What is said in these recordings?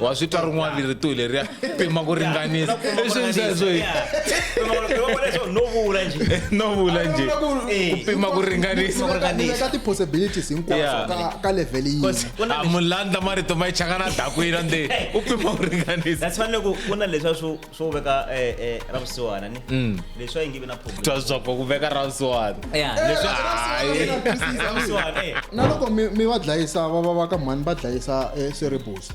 wa swi twa rin'wana rito hi leriya pima ku ringanisa no vula njhe no vula njhe ku pima ku ringanisaka ti-possibilities hinkwaswo ka level yihi mulandla marito ma yi chaka na dakwina nde u pima ku ringanisa that's fanele ku ku na leswa swo swo veka eh, eh, ra vusiwana ni mm. leswi a yi nge vi na problemswapo ku veka ra vusiwana eh, na loko mi va dlayisa va va va ka mhani va dlayisa seribusa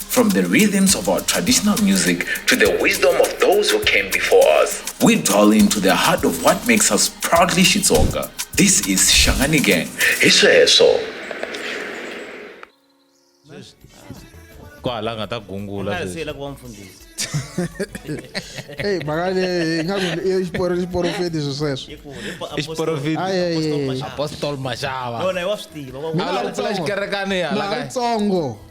From the rhythms of our traditional music to the wisdom of those who came before us, we dwell into the heart of what makes us proudly Shitsonga. This is Shangani Gang. Hi sweswo. ko hala nga ta gungula sweswi. siyela ku va mfundhisi eyi mhaka leyi ingaku i xiporo xiporofeti swi sweswo hi ku hi po- I xiporofeti. Ai, ai, ai. apostle mashava apostle mashava yona hi wa swi tiva wa- Mina a ri tsongo. xikerekani hala Na ka ri tsongo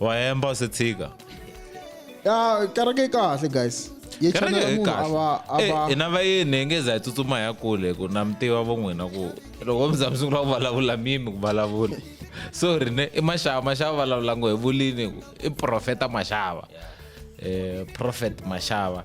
wa hemba u se tshika ya kereke yi kahle guys yi kereke chanela yi munhu a va a kahle va Eh, hina vayeni hi nge za hi tsutsuma hi ya kule ku na mi tiva va n'wina ku loko mi za mi sungula ku vulavula mimi ku vulavula sorry ne i maxava maxava vulavula ngo hi vulini ku i profeta maxava eh prophet maxava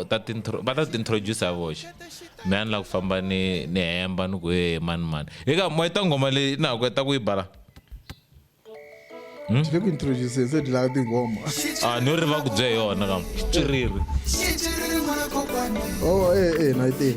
u ta tintro va ta tintroduce voxe me a ni la ku famba ni ni hemba ni ku e mani mani hi ka moya ta nghoma leyi na ku ta ku yi bala hmm? le ku introduce se dilaka tinghoma a ah, ni ri va ku bye yona ka xitswiriri oh eh eh na yi tini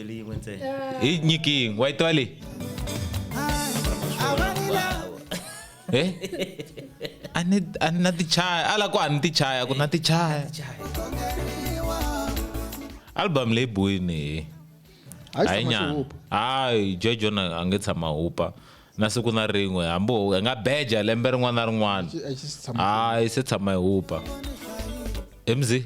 Yin'we yin'we ntsena. hi nyiki yin'we wa yi twa leyi e a ni a ni na tichaya a la ku a ni tichaya ku na tichaya album leyi boyini hi Hayi hayi tshama nyana xihupa. hayi jojo na a nge tshama hupa na siku na rin'we hambi ho- hi nga beja lembe rin'wana na rin'wana Xi- a xi si tshama hayi se tshama hi hupa emzi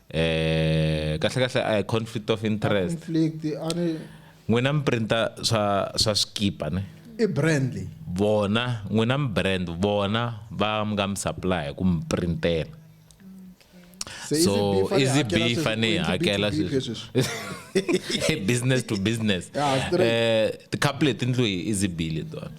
eh kahle kahle a hi conflict of interest conflict a ni n'wina mi printa swa swa swikipa ne i brand leyi vona n'wina mi brand vona va mi nga mi supply hi ku mi printela so easy b fane yi hakela business to business eh ti-couple leti ndlu hi easy b letona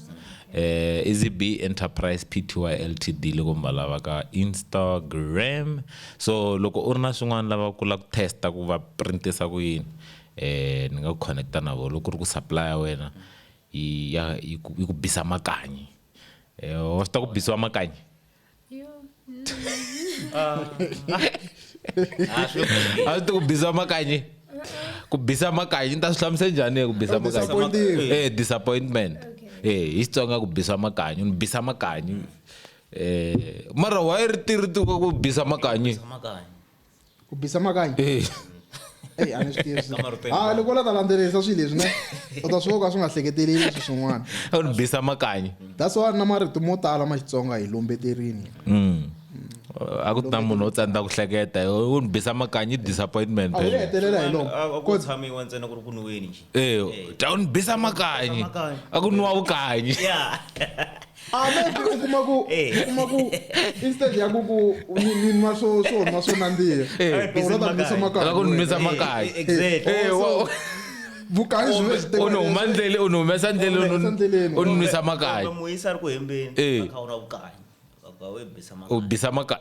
eh easy b enterprise pty ltd loko mi va lava ka instagram So loko u ri na swin'wana lava ku la ku test-a ku va print-isa ku yini ni nga ku connect-a na vo loko ku ri ku supply ya wena yi ya yi ku yi ku bisa makanyi wa swi ta ku bisiwa makanyi a swi ta ku bisa makanyi ku bisa makanyi ni ta swi hlamusa njhani ku bisa makanyi eh disappointment eh hi Xitsonga ku bisa makanyi ni bisa makanyi Eh, mara why ri ti ri ti ku bisa makanyi Makanya. ku bisa makanya Eh, Ey, a ni swi tivi swi- Kama ri tele. Ah, loko u la ta landzelerisa swilo leswi ne u ta swi vona ku a swi nga hleketeleli leswi swin'wana a ri bisa makanyi that's why na marito mo tala ma xitsonga hi lombeterini Mm. a ku ti na munhu wo tsandza ku hleketa u ni bisa makanyi disappointment a wu phela. hetelela hi lomo A- a ku tshamiwa ntsena ku ri ku nwiweni nje Eh, ta u ni bisa makanyi a ku nwiwa vukanyi Yeah. Amen u kuma ku u kuma ku instead ya ku ku ni ni nwa swo swo nwa swo nandziha Eh, u rata ni nisa makaya. Loko ni nwisa makaya. Eh, exactly. Eh, wa- Vukahi byi ve byi tekiwa u ni huma leswi. ndlele u ni humesa ndlele u ni- Humesa ndleleni. u ni nwisa makaya Kumbe muyisa ari ku hembeni Eh. akha u na vukahi. Akha u bisa u makaya. bisa makaya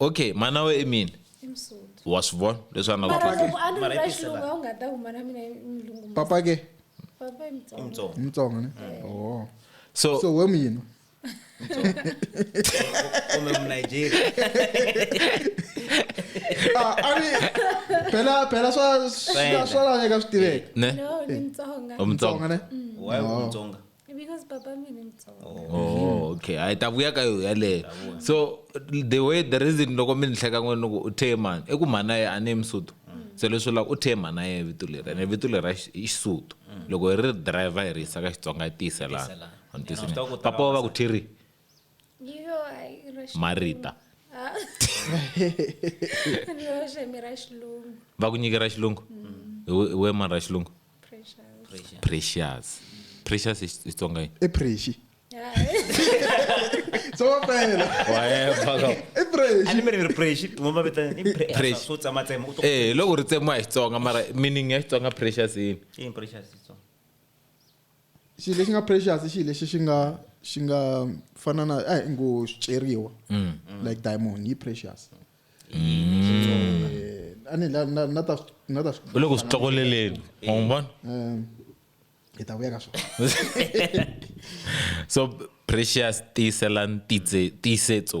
okay mhana we emini wa swi vona leswi a napapa ke mtsonga ne eh. oh. so so we muyini kumbe mnigeria ah, ani phela phela swa swa laveka swi tiveka ne umtsonga ne mm. why umtsonga oh. because baba mina mutsonga oh okay hayi ta vuya ka yo yaleyo so the way the reason loko mi ni hleka n'wini ni ku u theye mani i ku mhana ye a ni ye musotho se leswi lava u theye mhana ye vito leri ene vito leri i xisotho loko hi ri driver hi ri yisa ka xitsonga yi tiyiselana papa wa va ku thiri marita ah. va ku nyikera xilungu mm. we mani ra xilungu precious precious i xitsonga yini i prexi loko ri tsemiwa hi xitsonga mara meaning ya xitsonga precious yini xilo lexi nga precious i xilo lexi xi nga xi nga fana na a hi ngo swiceriwa mm. like diamond yi precious eh, ani la na na ta na ta u le ku swi tlokoleleni wa n'wi vona eh, hi ta vuya ka swona so precious tiyisela ntitse tiyisetso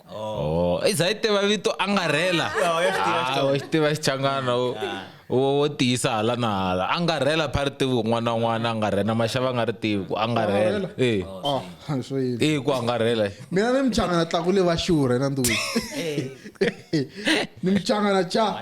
voko oh i za yi tiva vito angarhela ah, u xi tiva xichangana u ah. wo tiyisa hala na hala angarhela pha ri tivi n'wana n'wana angarhela maxava nga ri tivi ku angarhela e oh, e ku angarhela mina ni michangana tlakule va xurhe na nduwini ni michangana cha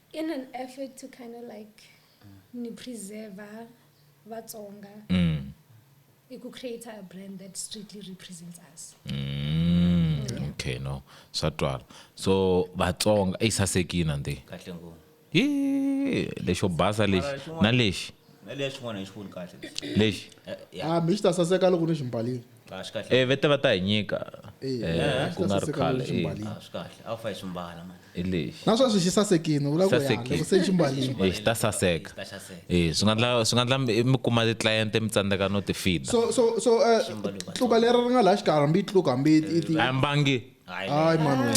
in an effort to kind of like mm. ni preserver vatsonga mm. i ku create a brand that strictly represents us mm. yeah. okay no swa twala so vatsonga i sasekina ndi kahle ngopfu hi lexo basa lexi na lexi na lexi xin'wana hi xivoni kahle lexi eh, ah mi xi ta saseka loko ni ximbalini Ah, swi kahle. e vete va ta hi nyika Eh, eh, ku nga ri saseka khale loko swi eh, mbalini. Ah, swi kahle. A wu fa hi swi mbala man. hi lexi na sweswi xi sasekini vula ku ya Sasekile. loko se xi mbalini Eh, xi ta saseka Ta xaseka. Eh, swi nga ndla swi nga ndla mi mi kuma titliyente mi tsandzeka no ti fida so so so eh, tluka leri ri nga laha xikarhi hambi yi tluka hambi yi- yi ti- a mbangi Hayi. hayi mani wena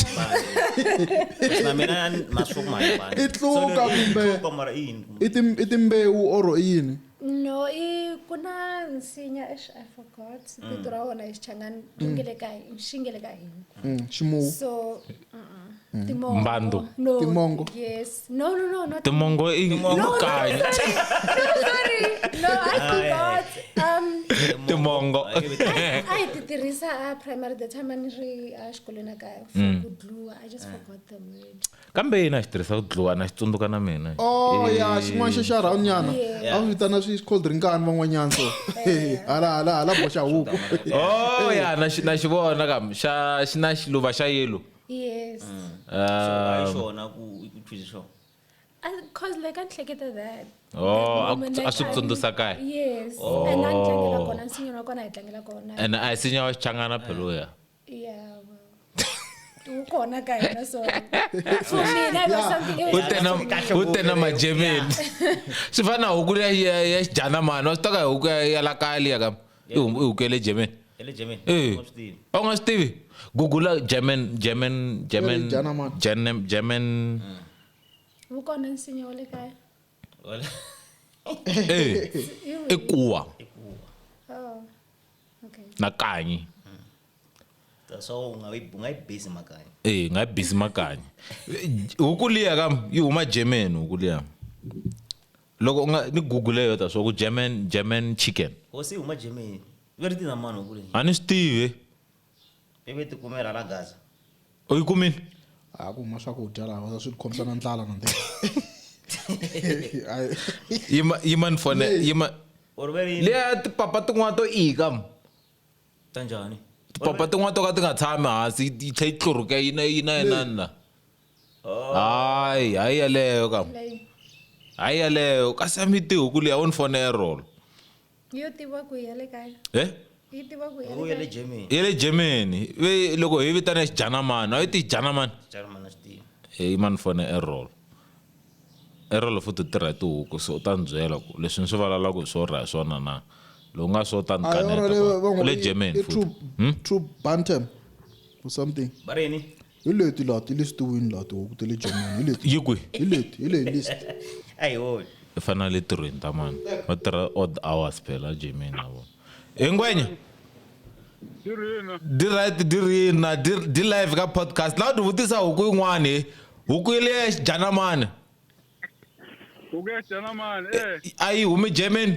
Kasi na mina na swi kuma hi mbala. I tluka So, kumbe- i tluka mara i yini? i tim- i timbewu or i yini no i ku na nsinya exi i forgot mm. vito ra wona hi xichangani ri nge le ka hini xi nge le ka hini mm, ximuwu so mm. timongo mbando no timongo yes no no no no timongo i mukanya no sorry no i forgot um timongo i ti tirhisa a primary the time ani ri a xikolweni a kaya for ku dluwa i just forgot the word kambe yini a xi tirhisa ku dluwa na xi tsundzuka na mina oh ya xin'wana xa xa round nyana a swi vitana swi cold drinkani van'wanyana so hala hala hala boxa huku oh ya na xi na xi vona kam xa xi na xiluva xa yellow yes mm. um, xona ku twise xona cause like I'm like that. Oh, a swi tsundzusa kaya. Yes. Oh. And a ni tlangela kona nsinyana wa kona hi tlangela kona. And a hi sinya wa xichangana phelo ya. ukhona ka yena so for me that was something else u tena majemeni swi fana na huku ya ya xidana mani wa swi taka huku ya la kaya liya ka i huku ya le germany eh u nga swi tivi gugula german german german german german vukona nsinya wa le kaya ee i kuwa Oh. Okay. nakanyi so ungayibhizi makanye ee ngayibhizi makanyi huku liya kam yi huma german huku liya loko u nga ni google yo ta swa ku german german chicken hosi yi huma germany va ri tina mani huku leyi a ni swi tivi ivi ti kumela la gaza u yi kumile a ku huma swakudya laha swi khomisa na ndlala na ndlela yima yima ni fone yima or ve ri leya tipapa tin'wana to ika m- ta njhani tipapa tin'wana to ka ti nga tshami hansi yi yi tlhe yi tluruke yi na yi na yinani la hayi hayi yaleyo kam hayi yaleyo kasi a mi tihuku leyi a wu ni fone ya rolo yo tiva ku ya le kaya he yi tiva ku ya u ya le le kaya germany ya le germany ve loko hi vitana xijanamani a yi ti janamani german a swi tivi heyi mani fone erol erol futhi u tirha hi tihuku so u ta ni byela ku leswi ni swi vulavulaka hi swo ra hi swona na loko nga swo ta ni Ah, yona kaneta leyi va ku- u n'wi le i- germany i futhi true- true bantam or something va ri yini hi leti laha ti listiwini laha tihuku ta le germany hi leti yi kwi hi leti hi leyi list a hi holi i fanele le tirhweni ta mani va tirha odd hours phela a germany na vona hi ngwenya diright dirina di live ka podcast laha u ti vutisa huku yin'wani huku yi leya xidyana mani huku ya xidyana mani eh. a yi humi germany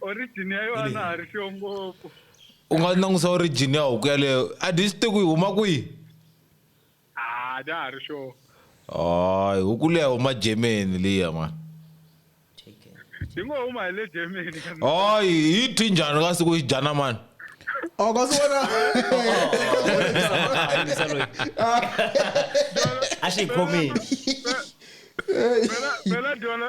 origin ya yona ha ri xiyo ngopfu u nga langusa origin ya huku yaleyo a dyi swi tiku yi huma kwihi a dya ha ri sure hayi huku leyi huma germany liya mani yi ngo huma hi le germany hayi yi thwi njhani ka siku yi dyana mani Oh, ka swi vona a xi yi khomile phela dyona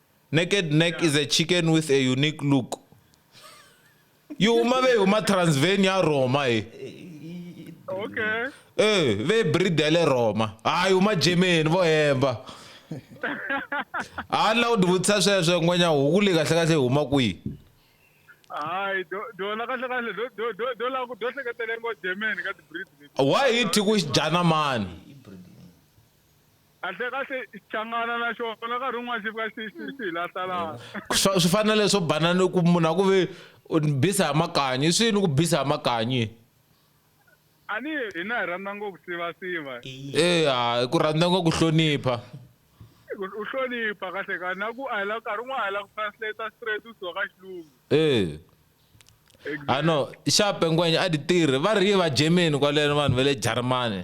naked neck is a chicken with a unique look yo uma vehuma transvan ya roma e okay e ve bridele roma hayi uma germany vo hemba ha ni lava ku tivutisa sweswo n'wenya huku leyi kahle kahle huma kwihi hayi dona kahle kahle do lava ku do hleketele ngo germany ka tibrid why hi thi ku xi dyana mani Kahlekahle Xichangana na xona nkarhi wun'wana xi fika xi xi xi hi lahla lahla. Swa swi fana na leswo bana ni ku munhu a ku ve u ni bisa hi makanyi i swini ku bisa hi makanyi. A ni hina hi rhandza ngopfu sivasiva. Eya hi ku rhandza ngo ku hlonipha. U hlonipha kahle kahle na ku a hi la nkarhi wun'wana a hi la ku translate straight u suka ka xilungu. E I know Exactly. xape ngwenya a ti tirhi va ri yi va Germany kwaleno vanhu va le Jarimani.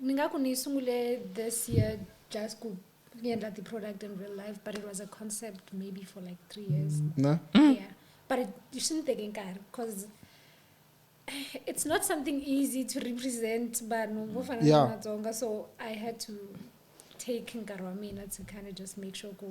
Ni nga ku ni yi sungule this year just ku ni endla ti-product in real life but it was a concept maybe for like three years na yeah but it- swi ni teke nkarhi because it's not something easy to represent vanhu vo fana Yeah. na matsonga so i had to take nkarhi wa mina to kind of just make sure ku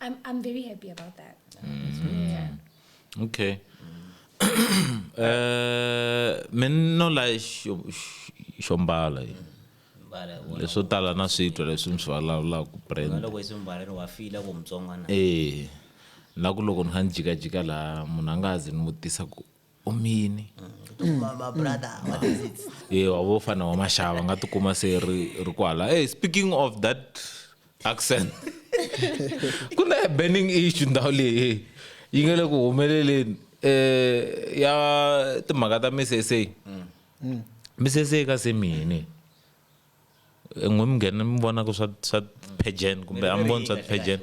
I'm, I'm very happy about that. Mm. Yeah. Okay. uh, men no la xombala leswo tala na switwa leswi mi swi vulavulaka brandloko i swi mbala ni wa fila ku mutsongwana ee na ku loko ni kha ni jikajika laha munhu a nga ha zi ni vutisa ku omini ye wa vo fana wa maxava nga tikuma se ri ri kwala hey speaking of that accent ku na burning issue ndhawu leyi yi nga le ku humeleleni eh ya timhaka ta misesa mm. misesa ka se mini n'we mi nghena mi vonaka swa swa pageant kumbe a mi voni swa pageant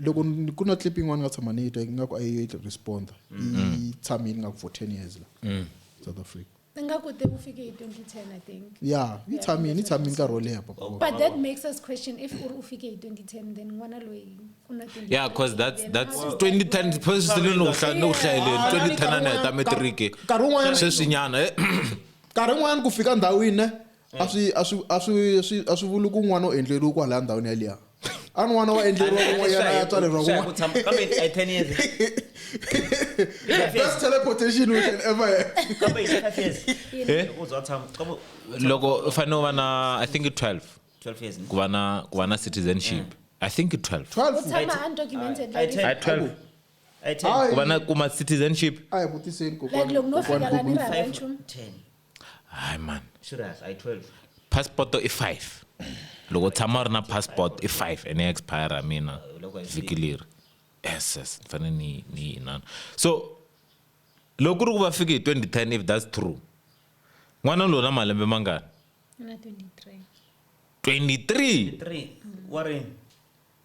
loko ni- ku na clip yin'wana ni nga tshama ni yi twa ingaku a yi responder yi tshamile ingaku for 10 years la south africa ingaku te ku fike hi 2010 i think ya yi tshamile yi tshamile nkarhi wo leha papa but that makes us question if u ri u fike hi 2010 then n'wana loyi u na 20 yeah cause that's then that's how- 2010 phezu sele ni ku hla- ni ku hlayeleni 2010 a ni heta metiriki nkarhi wun'wanyana sweswinyana eh, nkarhi wun'wanyana ku fika ndhawini ne a swi a swi a swi swi a swi vuli ku n'wana u endleriwe kwalaya ndhawini yaliya a n'wana wa endleriwa kun'wanyana ya tswaleriwa kun'wanabest teleportation we can ever loko u fanele u va na i think 12 ku va na ku va na citizenship i think 12 12 ku va na kuma citizenship a hi vutiseni kokwana kokwana hayi man serious i 12 passport i 5 loko tshama ri na passport i 5 ene expire mina vhiki leri yes yes ni fanele ni ni inana so loko ku ri ku va fike hi 2010 if that's true n'wana lowu na malembe mangani 23 wa rini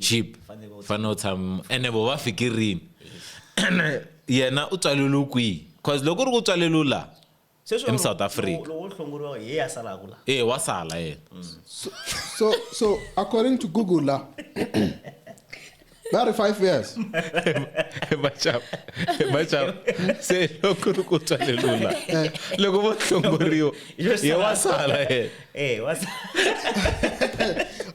chip fanele u tshama ene vo va fiki rini ene yena u tswaleliwe kwihi cause loko u ri ku tswaleliwe laha em south africa e wa sala yena so so according to google la Not in five years. vachava vachava se loko ri ku twa lelula eh. loko vo hlongoriwa ye wa sala yena eh, a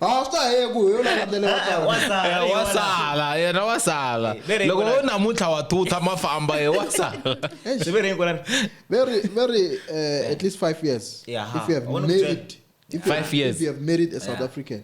ah, swi ta heye ku hi yona ndlela yo ah, eh, wa sala yena wa sala loko wo namuntlha wa thutha ma famba ye wa sala very very uh, at least five years if you have married if you have, if you have married a south african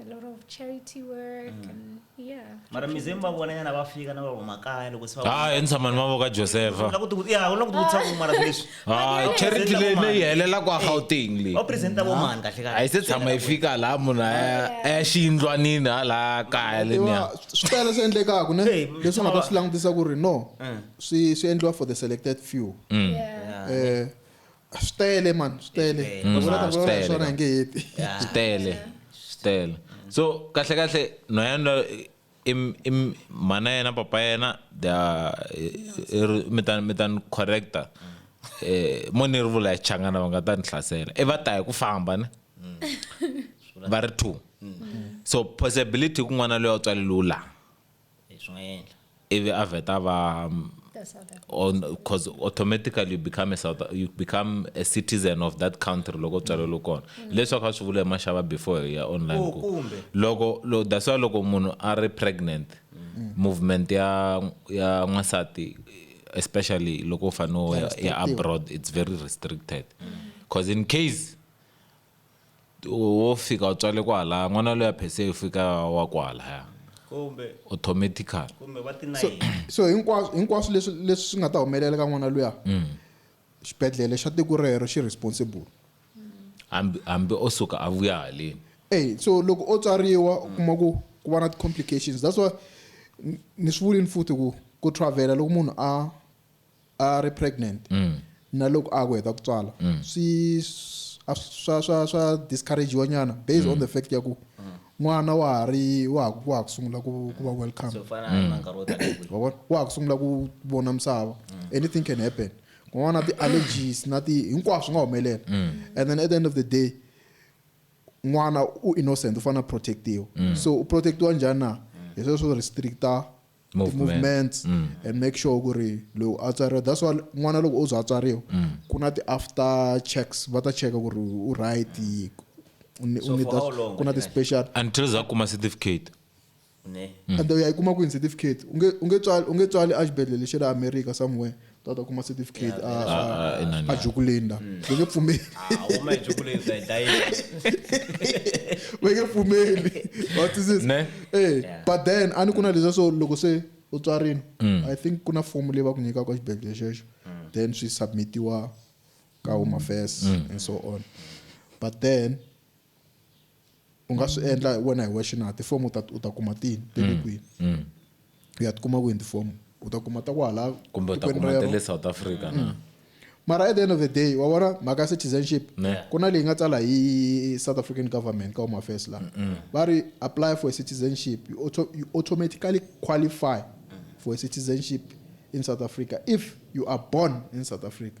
a lot of charity work mm. and yeah mara mizimu va vona nyana va fika na vavo makaya loko se ah i ntshama ni mavoka josefa la ku ti ya la ku ti vutisa ku mara leswi ah charity leyi leyi helela kwa Gauteng leyi o presenta vo mani kahle kahle ai se tshama yi fika la munhu a ya xiyindlwanini hala kaya le nya swi tele swi endlekaka ne leswi nga ta swi langutisa ku ri no swi swi endliwa for the selected few mm. eh swi tele man swi tele Swi tele. Ni vula ta Mm, swi vulavula hi tele, swona ka. hi nge heti Yeah. swi tele swi tele so kahle kahle no yena i i mhana yena papa yena they are eh, eh, ri- mi ta mi ta ni correcta eh mo ni ri vula hi changana va nga ta ni hlasela i va ta hi ku famba ne va ri two so possibility ku n'wana loyi a tswaleliwu laha Swi nga endla. Ivi a vheta va because automatically you become a South you become a citizen of that country loko tswalelo kona mm. leswaku a swi vula hi maxava before hi ya online oh, ku loko lo that's why loko munhu a ri pregnant mm. movement ya ya n'wansati especially loko u fanele ya abroad it's very restricted because mm. in case wo fika u tswale kwalaya n'wana loyi a phese u fika wa kwalaya automatical so, so hinkwaswo hinkwaswo leswi leswi swi nga ta humelela ka n'wana luya mm. xibedhlele xa tiko rero xi responsible hambi hambi o suka a vuya haleni ey so loko o tswariwa u kuma ku ku va na ti-complications that's why ni swi vulini futhi ku ku travela loko munhu a a ri pregnant mm. na loko a ku heta ku tswala mm. swi swa swa swa discouragewa nyana based mm. on the fact ya ku n'wana wa ha ri wa ha wa ha ku sungula ku ku va welcome wa ha ku sungula ku vona misava anything can happen kun'wana na ti-allergies na ti hinkwaswo swi nga humelela mm. and then at the end of the day n'wana u innocent u fanele a protectiwa mm. so u protectiwa njhani na mm. hi sweswo swo restricta Movement. ti-movements Mm. and make sure ku ri lowu a tswariwa that's why n'wana loko o za a tswariwa Mm. ku na ti-after checks va ta cheka ku ri u right u ni- u So need for how that- long ku na ka xin'we? ti-special until za kuma certificate ne and u ya yi kuma kwini certificate u nge- u nge tswali- u nge tswali exibedhlele xa le america somewhere tata kuma certificate a a- a- inani. a jukulinda va nge pfumeli huma hi jukuleni ta hi dayile va nge pfumeli Wa twisisa? Ne? Eh, but then a ni ku na leswiya swo loko se u tswarini i think ku na fomu leyi va ku nyikaka xibedhlele xexo then swi submitiwa ka home affairs and so on but then u nga swi endla wena hi wexe na tifomo u ta u ta kuma tini ti le kwihi u ya tikuma kwini tifomo u ta kuma ta kwahala kumbe u ta tikweni kuma ta rero. le south africa na mara at the end of the day wa vona mhaka ya citizenship Ne. ku na leyi nga tsala hi south african government ka home affairs la va ri apply for a citizenship you, auto, you automatically qualify for a citizenship in south africa if you are born in south africa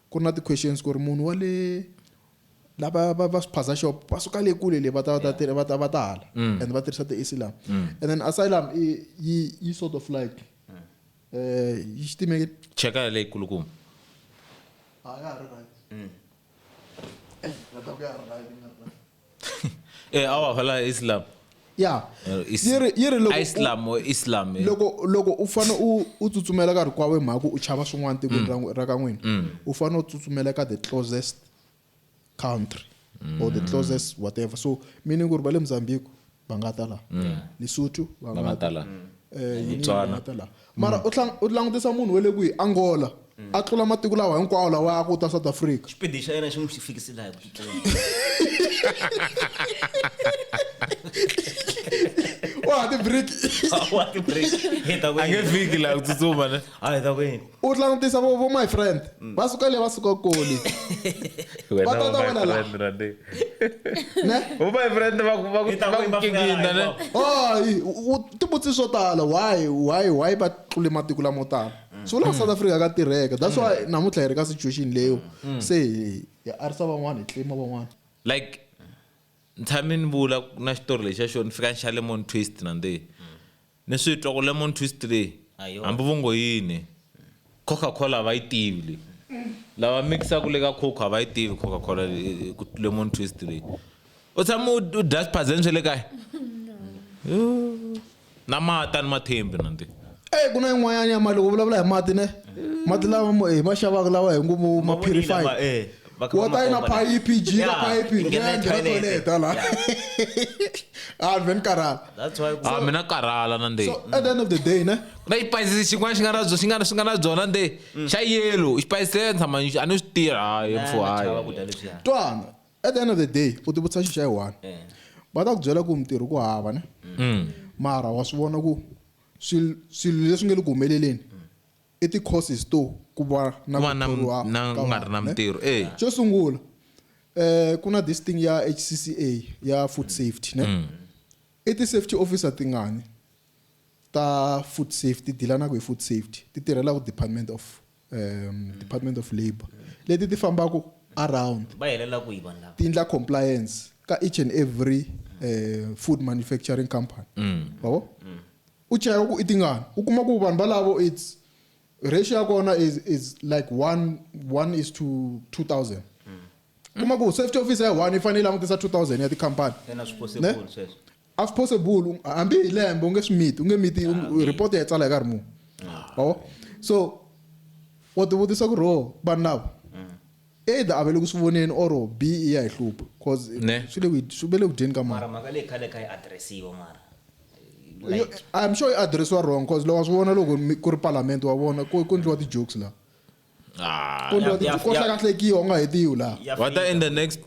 Ku ri na ti questions ku ri munhu wa le lava va va swiphaza shop va suka le kule le va ta va ta va ta va ta hala mm. and va tirhisa ti asylum mm. and then asylum i yi yi sort of like eh yi xitimeke cheka le kulukuma ha ya ri right mm. eh na ta ku ya ri right eh awa hala islam ya yi ri yi ri loko islam or islam eh. loko loko u fane u u tsutsumela ka rikwawe mhaku u chava swin'wana tikweni ra mm. ra ka n'wina mm. u fane u tsutsumela ka the closest country or the mm. closest whatever so meaning ku ri va le mozambique ba nga ta la mm. lesotho ba nga ta la mm. eh, mm. Tswana mara u langutisa munhu wa le kwihi angola a tlula matiko lawa hinkwawo lawa ya ku ta south africa xipidi xa yena xi n'wi fikise laha ku wa ti break wa ti break hi ta ku ange fiki laha ku tsutsuma ne a hi ta ku yini u langutisa vo vo my friend va suka le va suka kule Wena Va ta ta va my wena la. friend, Randi. ne Vo my friend va ku- va ku- I ta va ku ku yimba kingina, fela, ne? hi Hayi, u- u- tivutisi swo tala why why why va tlule matiko lamo tala so la south africa ka tirheka that's why namuntlha hi ri ka situation leyo se hi hi arisa van'wana hi tlima van'wana like ntshame ni vula na xitori lexiya xo ni fika ni xa lemon twist nandihi Ni swi twa ku lemon twist leyi hambi vo ngo yini Coca Cola a va yi tivi leyi. Lava mix-aka le ka Coco a va yi tivi Coca Cola lemon twist leyi. U tshame u u dya swiphazeni swa le kaya? Na mati a ni ma tshembi na ndi. Eyi ku na yin'wanyana ya mali u vulavula hi mati ne mati lama hi ma xavaka lawa hi ngo ma purified. Vakaba wota ina makomba leyi. phayiphi jika Yeah, phayiphi yi nghena yi nghena toilet. toilet hala a vhe ni karhala That's why ku- a Ah, mina karhala na nde so at the end of the day ne na xipayisisi xin'wana xi nga na byo- xi nga xi nga na byona nde xa yelo xipayisisi leyo tshama ni xi- a ni swi tirha hayi mfo Na- na chava hayi ku dya leswiya. twana at the end of the day u tivutisa xi xa yi one Eh. va ta ku byela ku mintirho ku hava ne mara wa swi vona ku swil- swilo leswi nge le ku humeleleni I ti causes to ku va na Ku va ku na thoriwa mi- na- ka ku nga ri vanhu, na ne? mintirho, e. Xo sungula eh ku na this thing ya HCCA ya food safety ne. Mm. I ti safety officer tingani ta food safety dilanaka hi food safety ti tirhela ku department of um, department of labour leti ti fambaka around va helela kwihi vanhu lava ti endla compliance ka each and every eh, food manufacturing company Mm. Bravo? U cheka ku i tingani. U kuma ku vanhu valavo it's ratio ya kona is, is like one, one is to 2000. Kuma ku safety officer ya one yi fanele yi langutisa 2000 ya tikhampani. Ina, swi possible Ne? sweswo. A swi possible u- hambi hi lembe u nge swi miti u nge miti u- report ya yi tsala hi nkarhi muni wa vo so wa tivutisa ku ri ho vanhu lava Either a va le ku swi voneni or bi i ya hi hlupha coz Ne. swi le ku hi- swi ve le ku dyeni ka mali. Mara mhaka leyi khale a kha yi address-iwa mara. Yo- Like. I'm sure yi address-iwa wrong coz loko wa swi vona loko mi- ku ri parliament wa vona ku ku endliwa ti-jokes laha. Ah, Ku endliwa Ya- ti- ya- ko ya- hlakahlekiwa u nga hetiwi laha. Ya what fika. in the next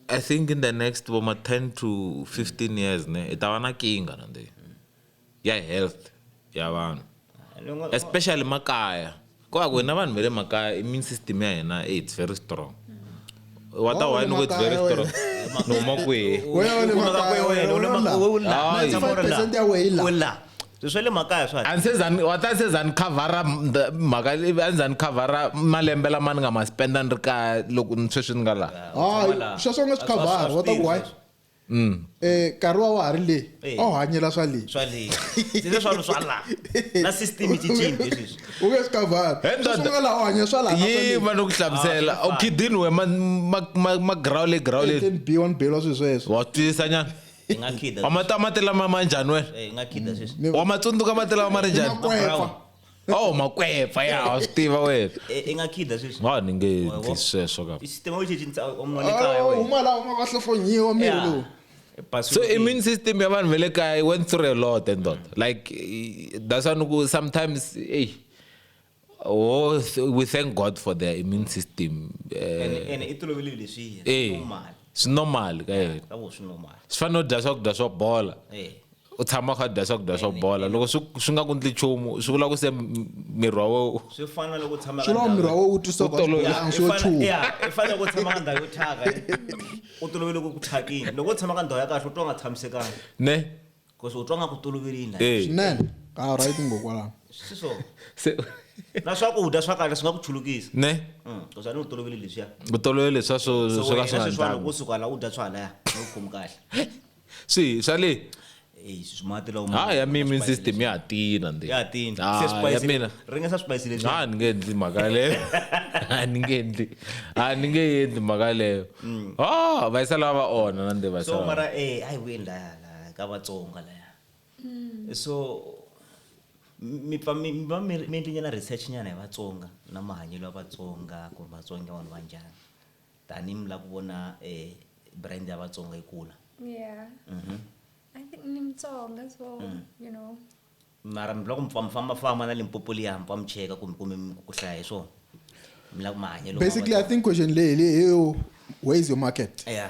i think in the next voma 10 to 15 years ne hi ta va na kinga na nde ya health ya vanhu especially makaya ko va ku hina vanhu va le makaya immune system ya hina it's very strong wa ta why loko it's very strong ni huma kwihi swa le makaya swa a ndzi zani wa ta se zani cover mhaka a ndzi cover malembe lama ni nga ma spenda ni ri kaya loko ni sweswi ni nga laha hayi sweswo nga swi cover wa ta ku why Mm. Eh nkarhi wa wa ha ri le Eh. a wu hanyela swa le swa le ndzi le swalo swa la na system yi cincile leswi u nge swi kavhari Hey, ndoda. sweswi u nga laha u hanya swa laha na swa le. yima no ku hlamusela Ah, swi fana. okhidini we magrawule grawule Eten B one belwa swilo sweswo wa twisisa nyana hi nga khida wa mata mati lama ma njhani wena Eh, hi nga khida sweswi wa ma tsundzuka mati lama ma ri njhani Makweva. Oh makwepfa ya wa swi tiva wena. E- i nga khida sweswi Wa ni nge Wa- wa- endli sweswo ka. system yo cinca omno le kaya Oh, wena huma laha huma va hlohlonyiwa miri Yeah. lowu E password So yi- immune system ya vanhu va le kaya went through a lot and lot. Like eh, that's why ni ku sometimes hey oh th- we thank God for their immune system. ene Eh ene i tolovele leswiya eh normal swi normal ka yena. ka vo swi normal Swi fanele u dya swakudya swo bola. Eh. u tshama kha dya swakudya swa bola loko swi swi nga ku ndli nchumu swi vula ku se miri wa wena swi fana loko tshama swi lava miri wa wena u twisa ku a swo chumu i fanele ku tshama ka ndhawu yo thyaka u tolovele ku thyakini loko u tshama ka ndhawu ya kahle u twa nga tshamisekanga ne because u twa nga ku toloverile swinene a right ngokwalano siso na swakudya swa kahle swi nga ku chulukisa ne because a ni u tolovele leswiya u tolovele leswiya swo swo ka swi nga ndlanga kusuka la u dya swa halaya u khomi kahle swihi swa le Eyi, swi mati lawa ma- ha ya ma- mi ma- immune system ya ha tina nde ya tini se Ah, ya swipayisi mina le- ri nga sa swipayisi leswi a ni nge endli mhaka leyo a ni nge endli a ni nge endli mhaka leyo o va yisa lava va onha na nde va yisa Mm. so lava. mara eh ayi wini laya laya ka vatsonga laya so mi- mi pfa mi mi va mi ri- mi endlinyana research nyana hi vatsonga na mahanyelo ya vatsonga ku ri vatsonga vanhu va njhani Tani mi la ku vona brand ya Vatsonga yi kula. Yeah. I think ni Mutsonga so you know. Mara mi la ku mi pfa mi famba famba na Limpopo liya mi pfa mi cheka ku mi kume ku hlaya hi swona. Mi la ku mahanyelo ma Vatsonga. Basically I think question leyi hi leyi yo where is your market? Yeah.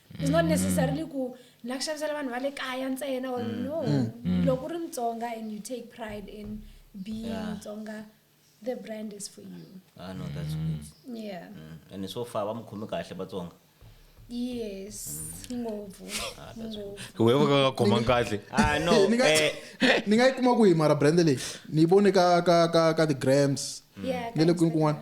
it's not necessarily ku na ku xavisela vanhu va le kaya ntsena or mm. no mm. Mm. loko ri mutsonga and you take pride in being mutsonga yeah. the brand is for you ah, no, that's good. yeah mm. and so far va mukhomi kahle vatsonga yes ngopfu ah, ngopfu wewe ka nga khoma kahle ah no ni nga eh. ni nga yi kuma ku hi mara brand leyi ni yi vone ka ka ka ka the grams ni le kwini kun'wana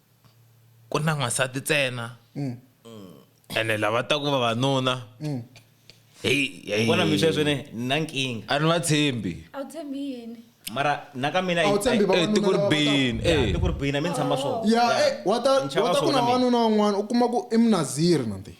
ku na n'wansati ntsena mm. ene lava ta ku vavanuna mm. vona mi sweswi ni na nkingha a ni va tshembi a wu tshembi yini mara na ka mina tiko ri bini tiko ri bini a mi ni tshamba swona wa ta ku na wanuna un'wana u kuma ku i munaziri nanti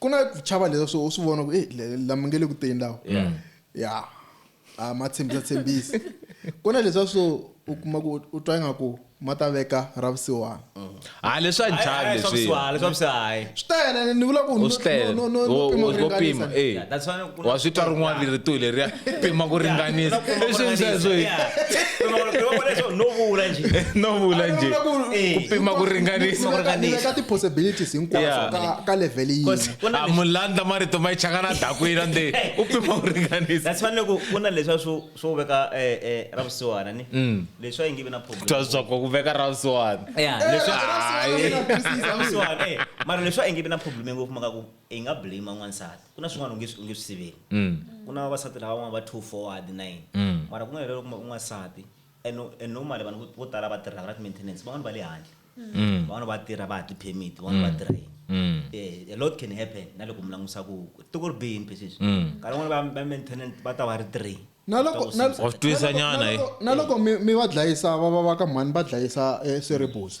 ku na ku chava leswa swo u swi vona ku eh, le- lama nge le ku teni lawa ya a ma tshembisa tshembisi ku na leswa swo u kuma ku u twa ingaku ma ta veka ra vusiwana ha leswa njhani leswi leswavusiwahayi swi tele ni vula ku no- Swi tele. no- no- no- no Wo- pima wo- ku wo ringanisa. pima, eh. that's why wa swi twa rin'wana rito leriya pima ku ringanisa no vula njhe ku pima ku ringanisaka ti-possibilities hinkwaso ka level yiaa mulandla marito ma yi chaka na dakwina nde u pima ku ringanisa that's fanele ku ku na leswa swo swo veka eh, eh, ra vusiwana ni mm. leswi a yi nge vi na problem twa swakwa ku veka ra vusiwana leswi hayi mara leswi a yi nge vi na problem ngopfu maka ku i nga blame n'wansati ku na swin'wana u nge swi siveli ku na vavasati lava van'wana va two forward nine mara ku nga helelo kuma un'wansati and and normally vanhu vo tala va tirhaka na ti-maintenance van'wana va le handle van'wana va tirha va ha ti-permit van'wana va tirha yini a lot can happen na loko mi langutisa ku tiko ri bihe mpe sweswi nkarhi van'wana va maintenance va ta va ri three Wa swi twisisa nyana, he. na loko mi mi va dlayisa va va va ka mhani va dlayisa eh, swiribusi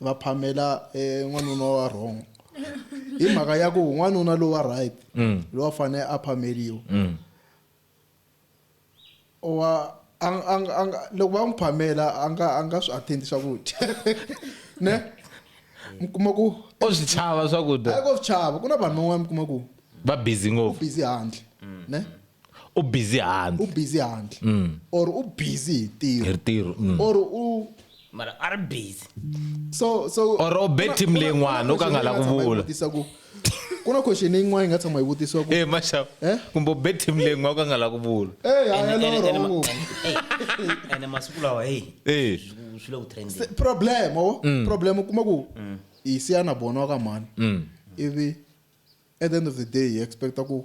va phamela eh, n'wanuna wa wrong hi mhaka ya ku n'wanuna lowa right mm. lowa fanele a phameliwa mm. wa loko va n'wi phamela a nga a nga swi attend swakudya ne mi kuma ku o swi chava swakudya a ko swi chava ku na vanhu van'wana mi kuma ku va busy ngopfu busy handle mm. ne u busy handle u busy handle mm. or u busy hi tiro hi tiro mm. or u mara a ri busy so so or o bet team le n'wana o ka nga la ku vula ku na question leyi n'wana yi nga tshama yi vutisiwa ku eh mashav eh kumbe o bet team le n'wana o ka nga la ku vula eh ha ya loro ngo ene masiku lawa hey eh swi le ku trending problem o oh. mm. problem kuma ku mm. yi siya na bona wa ka mhani mm. ivi at the end of the day yi expecta ku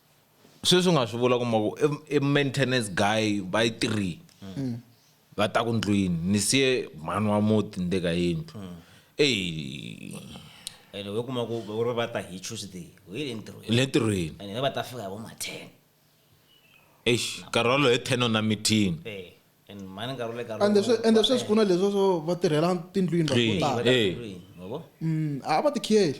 Sweswi u nga swi vula kuma ku i maintenance guy va yi three mm. va ta ku ndlwini ni siye mhani wa muti ni le ka yindlu mm. eyi ene we kuma ku u ri va ta hi tuesday u yi le ntirhweni le ntirhweni ene va ta fika hi vo ma ten eish nkarhi walowo hi ten ona meeting eh. ende swi ende sweswi ku na leswo swo va tirhela tindlwini vanhu vo tala Hey. Ngoba? Mm, a va tikhiyeli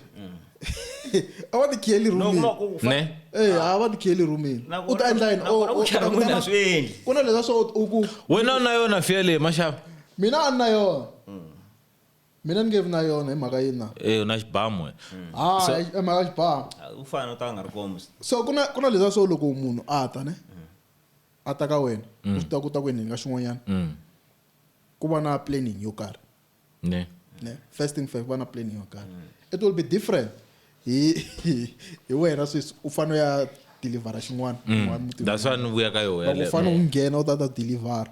a va tikhiyeli No, rhumini no, ku fa- ne Eh, a va tikhiyeli rhumini Na u ta kona- endla yini na O- kona o- ku chava n'wina a swi endli. ku na leswa swo u ku wena u na yona fiya leyi maxava mina a ni na yona mina ni nge vi na yona hi mhaka yini na e u na xibamu wena Ah, So- hi mhaka xibamu Ah, u fana u ta nga ri kombi so ku na ku na leswa swo loko munhu a ta ne a ta ka wena mm. u swi tiva ku ta ku endleni ka xin'wanyana mm. ku va na planning yo karhi ne ne first thing first ku va na planning yo karhi it will be different hi hi wena sweswi u fanele ya delivera xin'wana mm. that's why ni vuya ka yona u fanele u nghena u ta ta delivera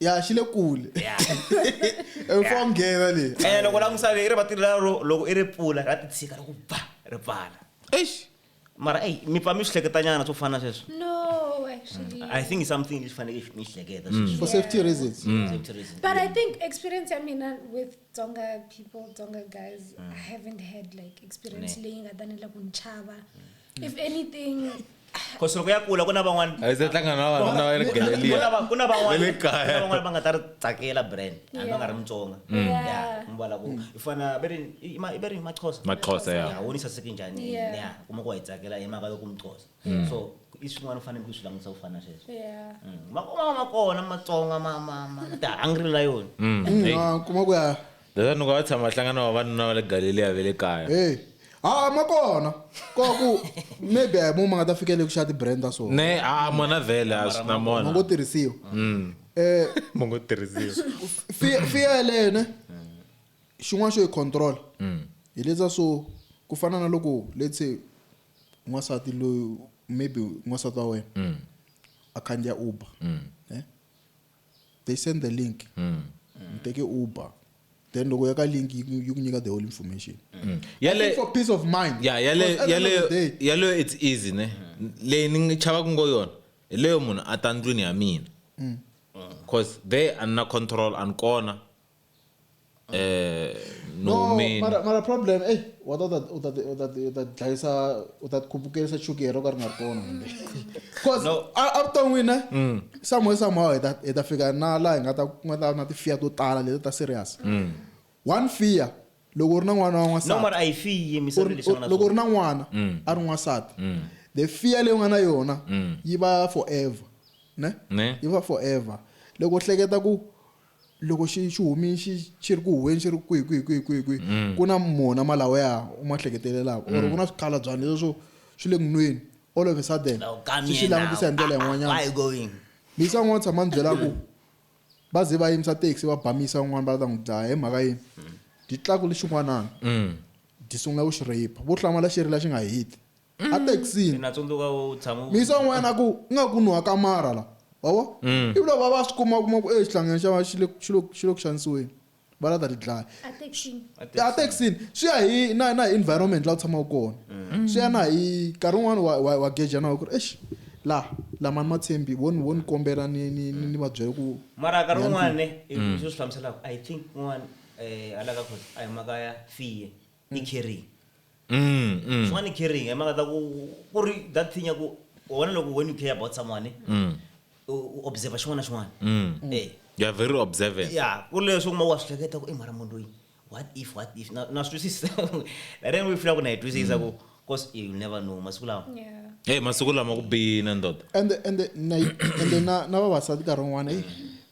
ya xi le kule mfomgeva leyi ene eh, loko langusa i ri vatiri lero loko i ri pfula ra titshika ri ku ba ri pfala eish mara eyi mi pfa mi swi hleketanyana swo fana sweswo i think something lexi faneleke mi xi hleketa mm. for safety mm. reasons but i think experience ya mina with tsonga people tsonga guys i mm. haven't had like experience leyi nga tanile ku ni chava if anything because loko ya kula ku na van'wana a yi se hlangana na vanhu na le galleria ku na van'wana le kaya van'wana va nga ta ri tsakela brand hambi va nga ri mutsonga ya mi vala ku i fana ve ri i ve ri maxhosa maxhosa ya ya woni saseke njhani ya kuma ku wa yi tsakela hi mhaka loko muxhosa mm. so i swin'wana u fanele ku swi langutisa ku fana sweswo mm. makoma ma kona matsonga ma ma ma ta hungry la yona mm. kuma ku ya Ndza nuka va tshama hlangana wa vanuna va le Galileya ve le kaya. Hey. Ha ma kona. Ko ku maybe a hi mo ma nga ta fikele ku xa ti brand ta so. Ne a mona vele a swi na mona. Ngo tirhisiwa. Mm. Eh mo ngo tirhisiwa. Fear fear le ne. Xin'wana xo yi control. Mm. Hi letsa so ku fana na loko let's say n'wasati loyi maybe n'wasati wa wena. Mm. A khandziya Uber. Mm. Eh. they send the link mm. you take a uber then loko ya ka link yi ku nyika the whole information mm. yale for peace of mind yeah yale yale yale it's easy ne leyi ni chava ku ngo yona hi leyo munhu a ta ndlwini ya mina mm. cause there a ni na control a ni kona eh no, no mean mara mara problem eh wa ta u ta u ta u ta dlayisa u ta khupukisa chukera ka ri nga kona cause no. a a ta wina eh? mm. somewhere somehow hi ta hi ta fika na la hi nga ta nga ta na ti fear to tala leti ta serious mm. one fear loko ri na n'wana wa n'wansati no mara a yi fiyi mi sabe leswi nga loko ri na n'wana mm. a ri n'wansati mm. the fear leyi nga na yona mm. yi va forever ne ne yi va forever loko hleketa ku loko xi xi humini xi xi ri ku huweni xi ri kwihi kwihi kwihi kwihi kwihi mm. ku na mona malawa ya u ma hleketelelaka or mm. ku na swikhalabyana leswo swi le ngunweni all of a sudden swi xi langutisa hi ndlela yin'wanyana misa un'wana tshama ni byela ku va ze va yimisa taxi va bamisa un'wana va ta n'wi dlaya hi mhaka yini mm. dyi tlaku lexin'wanana dyi sungula ku xi rape vo hlamala xi ri la xi nga hiti ethekisini na tsundzuka u tshama u- misa un'wana a ku nga ku nuha ka mara la wavo Mm. ivi loko va va swi kuma kuma ku exihlangeni xa va xi le xi le- xi le ku xanisiweni va la ta ti dlaya Attention. ethekisini swi ya hi na na hi environment laha u tshamaka kona Mm. swi ya na hi nkarhi wun'wani wa- wa wa geja na ku ri exi la lamani matshembi vo ni vo ni kombela ni ni ni ni va byela ku mara nkarhi wun'wani Mm. i swi swi hlamuselaka i think un'wana um hala ka khosi a hi maka ya fiye ni carrying mm, swin'wana ni carrying hi mhaka ta ku ku ri that thing ya ku wena loko when you care about someone mm, u u observer xin'wana na xin'wana mm. Eh, you are very observant ya ku ri leswi u kuma wa swi hleketa ku i mara munhu loyi what if what if na na swi twisisa that then we feel ku na yi twisisa ku cause you never know masiku lawa Yeah. hey masiku lama ku biyina ndoda ende ende na ende na na vavasati nkarhi wun'wana eyi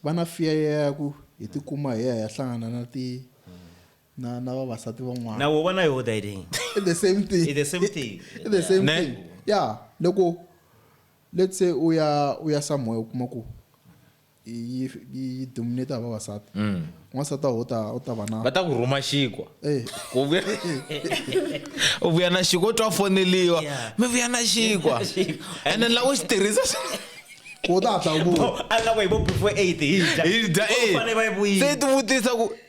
va na fear ya ku hi tikuma hi ya hi ya hlangana na ti na na vavasati van'wana na wo vona yo that thing i the same thing i the same thing i the same thing yeah loko let's say u ya u ya somewhere u kuma ku yi yi dominate ha vavasati mm. n'wansati u ta u ta va na va ta ku rhuma xikwa eh. ku vuya u vuya na xikwa u twa foneliwa mi vuya na xikwa and then laha u xi tirhisa ku ta hatla u vuya a lava yi vo before eight hi dya hi dya eight se ti vutisa ku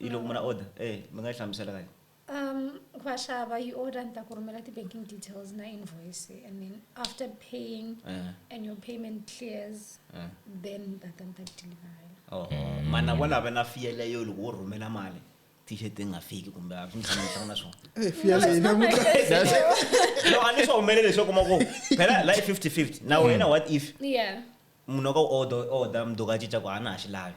Hi loko munhu a order e mi nga yi hlamusela ka yini? Um, vaxava yi order ni ta ku rhumela ti-banking details na invoice and then after paying Eh. and your payment clears Eh. then ni ta ta ni ta ku deliverela Oh, mana wa lava na fiyele yo loko wo rhumela mali t-shirt yi nga fiki kumbe a swi ndzi tshama ndzi hlangana swona Eh, fiya No, it's leyi not na my muka- case at all. no a ni swi humelele leswi kuma ku phela la i 50 50 na wena what if yeah munhu wa ka u order order mundzuku a cinca ku a na ha xi lavi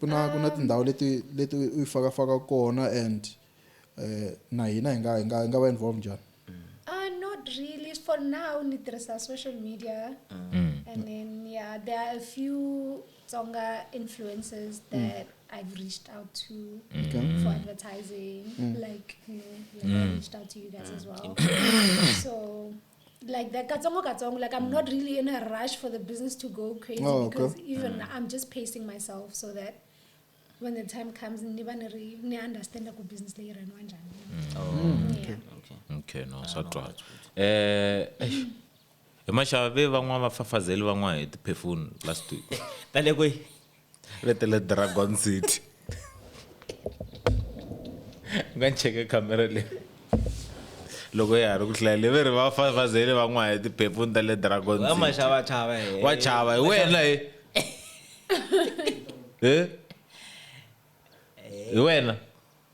Ku na ku na tindhawu leti leti u yi faka faka kona and eh na hina hi nga hi nga hi nga va involve njhani? Uh, not really. For now, ni tirhisa social media. And then, yeah, there are a few Tonga influencers that I've reached out to Okay. for advertising. Like, you know, like I reached out to you guys as well. so, like that katsongo katsongo like i'm not really in a rush for the business to go crazy oh, okay. because even mm. i'm just pacing myself so that when the time comes ni va ni ri ni understand ku business leyi raniwa njhani mm. oh, mm. okay. okay. okay no swa twala eh hi maxava ve van'wana va fafazeli van'wana hi tiphefuni last week ta le kweyi letele dragon city u nga cheke khamera leyi loko ya ha ri ku hlaya leve ri va fafazele van'wana hi tiphepuni ta le dragon wa chava hi wena hi hi wena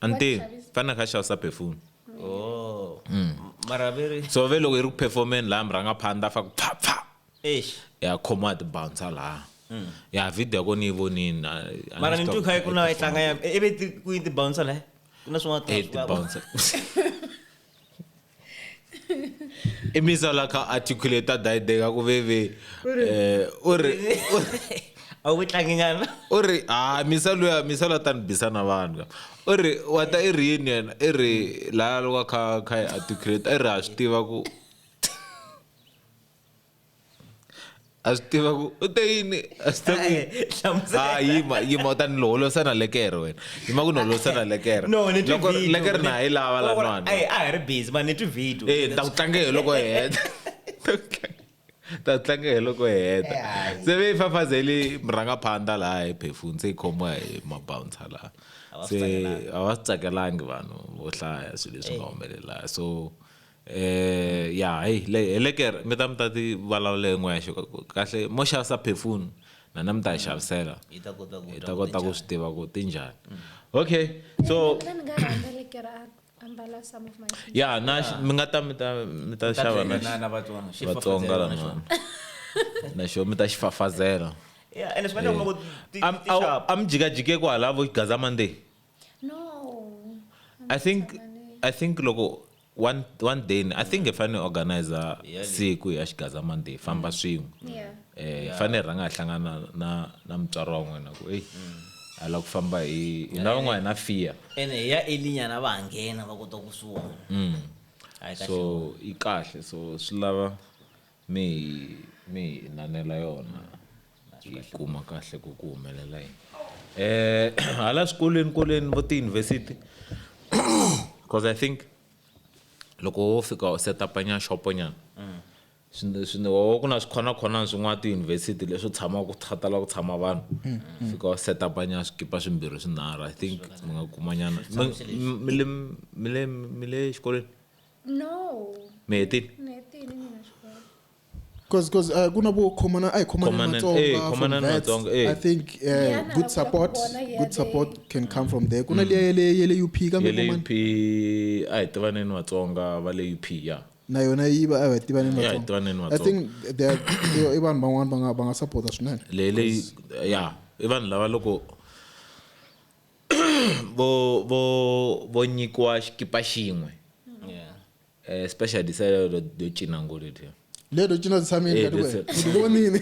ante fanele kha xavisa perfume oh mm. mara veri so ve loko yi ri ku performeni laha mi rhanga phanda fa ku pfa pfa ya khomiwa tibouncer laha mm. ya video ya kona yi vonini mara ni twi kha ku na yi tlanga ya ivi ku yi tibouncer laha ku na swin'wana eh, tibouncer i misa la ka articulate daideka ku veve eh o re a wu tlangi nyana o re a misa loya misa la ta ni bisa na vanhu o re wa ta i ri yini yena i ri la loko kha kha articulate i ri ha swi tiva ku a swi tiva ku u te yini a swi tiva ku hlamusela. ha yima yima u ta ni loholosana lekere wena yima ku ni holosana lekere No, ni twi Loko- video. lekere na ha yi lava Wa- wa- lanwana Ayi, a hi ri busy mani ni twi video Eh, ni ta ku tlange hi loko hi heta Ta ku tlange- ta ku tlange hi loko hi heta se ve yi fafazeli murhangaphandla laha hi phefuni se yi khomiwa hi mabouncer laha va swi se tsakelanga. a va swi tsakelangi vanhu vo hlaya swilo leswi nga humelela so Eh ya hey le helekere mi ta mi ta ti vulavula hi n'wexe kahle mo xavisa perfume na na mi ta yi xavisela hi ta kota ku hi ta kota ku swi tiva ku ti njhani okay so Then nga rhandza lekera a ambala some of my shoes. ya na mi nga ta mi ta mi ta xava na na na vatsonga xi vatsonga fafazela na xona. lana na xo mi ta xi fafazela Yeah, ene swi nga endla ku ti- ti- ti sharp. a mi jikajike kwala vo gaza monday i think i think loko one, one day i think hi fanele organizer siku ya xigaza monday famba mm. swin'we um eh, hi fanele rhanga hi hlangana na na mutswari wa n'wina ku eyi mm. a lava ku famba hi hi na van'wana hi na fear ene hi ya elinyana va nghena va kota kusuhana mm. so yi kahle so swi lava mi hi mi hi inanela yona hi yi kuma kahle ku ku humelela yini eh hala swikolweni koleni vo tiyunivhesiti because i think loko wo fika u setapanyana xoponyana swi swi wa ku na swikhonakhonan swin'wana tiyunivhesiti leswi tshama ku khatala ku tshama vanhu fika u setapanyana swikipa swimbirhi swinharhu i think mi nga kumanyana mi- mi- mi le- mi le mi le xikolweni no neti neti ni mina xikolo because because uh, kuna vo khomana a hi khomane Khomana- matsonga eh, from khomana ni vets. Matsonga, eh. i think uh, Liyana good labuya support kubona yale. good support can come from there kuna liya yele yele up ya kambe le khomana up a hi tivaneni vatsonga va le up ya na yona yi va a va tiva ni Ya, hi tiva ni ni matsonga i think they are- they are- i vanhu van'wana va nga va nga supporta swinene leyi leyi ya i vanhu lava loko vo vo vo nyikiwa xikipa xin'we Yeah. eh, special design lero lyo cina ngulu ledyiya. lero cina Eh, tshamile kati lero- wena ndzi vonile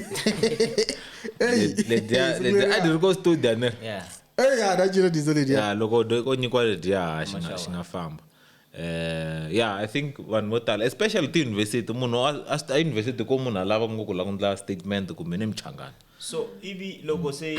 eyi Le- ledyiya- ledyiya a ndzi ri ko studio ne Yeah. eyi ha na cina diesel lediya ya loko do- ko nyikiwa ledyiya xi nga- xi nga famba Eh, ya i think vanhu vo tala especially tiyunivhesiti munhu a- a swi- eyunivhesiti ko munhu a lava ngopfu la ku ndla statement kumbe ni michangano So ivi loko se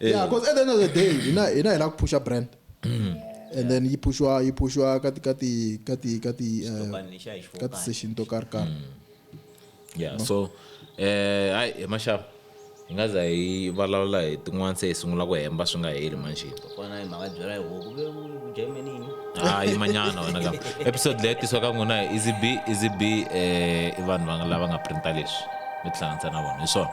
yeah because at the end of the day hina hina hi lava ku phusha brand and then yi phuxiwa yi phuxiwa ka ti ka ti ka ti ka ti eh, Xitokani lexi a hi xi ka ti fokani. session to karhi karhi yeah so eh hayi hi maxava hi nga za hi vulavula hi tin'wana se hi sungula ku hemba swi nga heli manjhini kona hi mhaka byela hi huku ve u dya yime nini Ah, yimanyana wena ka episode leyi tisiwa ka n'wina hi easy b easy b eh i vanhu va nga- lava nga printa leswi mi tihlanganisa na vona hi swona